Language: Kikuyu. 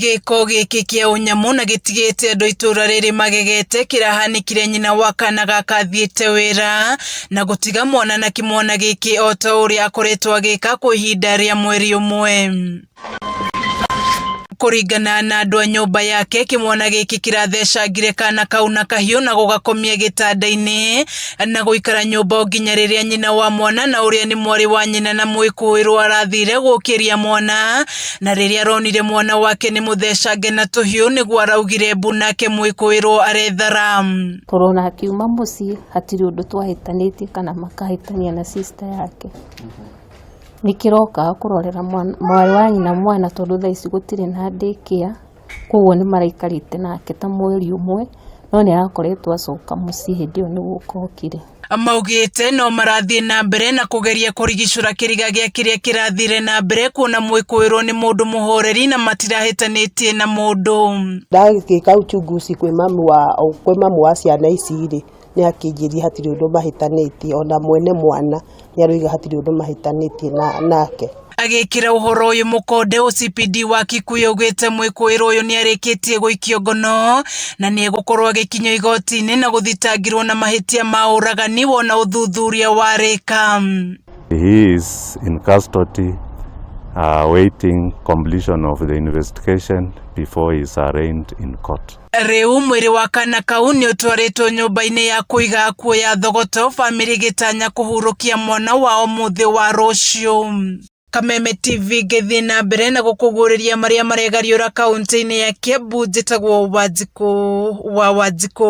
gĩko gĩkĩ kĩa ũnyamũ na gĩtigĩte andũ itũra rĩrĩ magegete kĩrahanĩkire nyina wa kana gaka athiĩte wĩra na gũtiga mwana na kĩmwana gĩkĩ o ta ũrĩa akoretwo agĩka kwa ihinda rĩa mweri ũmwe kũringana na andũ a nyũmba yake kĩmwana gĩkĩ kĩrathecangire kana kau na kahiũ na gũgakomia gĩtanda-inĩ na gũikara nyũmba o nginya rĩrĩa nyina wa mwana na ũrĩa nĩ mwarĩ wa nyina na mwĩkũĩrwo arathire gũkĩria mwana na rĩrĩa aronire mwana wake nĩ mũthecange na tũhiũ nĩguo araugire mbu nake mwĩkũĩrwo arethara Korona akiuma mũciĩ hatirĩ ũndũ twahĩtanĩtie kana makahĩtania na sister yake nĩkĩrokaga kũrorera mwana- mwarĩ wa nyina mwana tondũ thaa ici gũtirĩ na daycare Koguo nĩ maraikarĩte nake ta mweri ũmwe, no nĩ arakoretwo acoka mũciĩ hĩndĩ ĩyo nĩ gũka okire. Maugĩte no marathiĩ na mbere na kũgeria kũrigicũra kĩriga gĩa kĩrĩa kĩrathire na mbere kuona mwĩkũĩrwo nĩ mũndũ mũhoreri na matirahĩtanĩtie na mũndũ. Ndagĩka uchunguzi kwĩ mamu wa kwĩ mamu wa ciana ici rĩ nĩakĩnjĩria hatirĩ ũndũ mahĩtanĩtie ona mwene mwana nĩaroiga hatirĩ ũndũ mahĩtanĩtie nake. Agĩkĩra ũhoro ũyũ mũkonde OCPD wa Kikuyu augĩte mwĩkũĩrwo ũyũ nĩarĩkĩtie gũikio ngono na nĩegũkorwo agĩkinyio igoti-inĩ na gũthitangĩrwo na mahĩtia ma ũragani wona ũthuthuria warĩka. He is in custody uh, waiting completion of the investigation before he is arraigned in court. Rĩu mwĩrĩ wa kana kau nĩũtwarĩtwo nyũmba-inĩ ya kũiga akuũ ya Thogoto, bamĩrĩ ĩgĩtanya kũhurũkia mwana wao mũthĩ wa rũciũ. Kameme TV ngĩthiĩ na mbere na gũkũguũrĩria marĩa maregariũra kaunti-inĩ ya Kiambu njĩtagwo Wanjikũ wa Wanjikũ.